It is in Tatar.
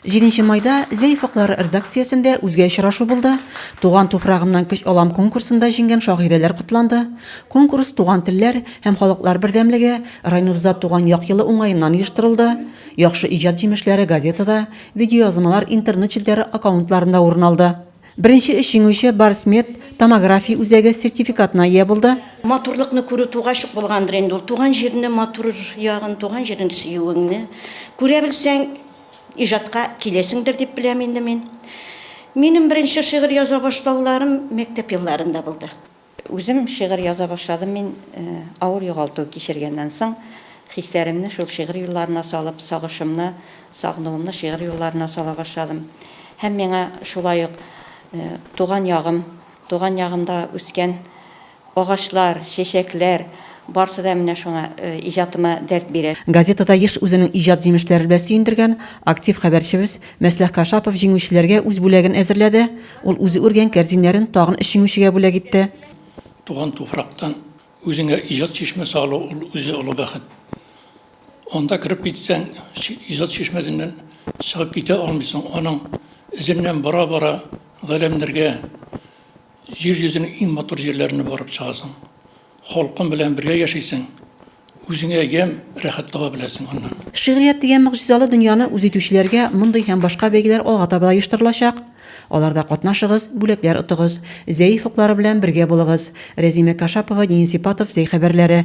Җиденче майда Зәй фоклары рдакциясендә үзгә очрашу булды, Туган туфрагымнан көч алам конкурсында җиңгән шагыйрәләр котланды. Конкурс Туган телләр һәм халыклар бердәмлеге районыбызда туган як елы уңаеннан оештырылды. Яхшы иҗат җимешләре газетада, видеоязмалар интернет челтәре аккаунтларында урын алды. Беренче өч җиңүче Барсмед томография үзәге сертификатына ия булды. Матурлыкны күрү тугач ук булгандыр инде ул. Туган җирне матур ягын, туган җирен сөюеңне күрә белсәң, Иҗатка киләсеңдер дип беләм инде мин. Минем беренче шигырь яза башлауларым мәктәп елларында булды. Үзем шигырь яза башладым мин авыр югалту кичергәннән соң. Хисләремне шул шигырь юлларына салып, сагышымны, сагынуымны шигырь юлларына сала башладым. Һәм миңа шулай ук туган ягым, туган ягымда үскән Агачлар, чәчәкләр, барсы да менә шуңа, иҗатыма дәрт бирә. Газетада еш үзенең иҗат җимешләре белән сөендергән актив хәбәрчебез Мәсләх Кашапов җиңүчеләргә үз бүләген әзерләде, ул үзе үргән кәрзиннәрен тагын өч җиңүчегә бүләк итте. Туган туфрактан үзеңә иҗат чишмәсе алу, ул үзе олы бәхет. Анда кереп китсәң, иҗат чишмәсеннән чыгып китә алмыйсың, аның эзеннән бара-бара, галәмнәргә Җир йөзенең иң матур җирләренә барып чыгасың. Халкың белән бергә яшисең, үзеңә ямь, рәхәт таба беләсең аннан. Шигърият дигән могҗизалы дөньяны үз итүчеләргә мондый һәм башка бәйгеләр алга таба да оештырылачак. Аларда катнашыгыз, бүләкләр отыгыз. Зәй офыклары белән бергә булыгыз. Рәзимә Кашапова, Денис Ипатов, Зәй хәбәрләре.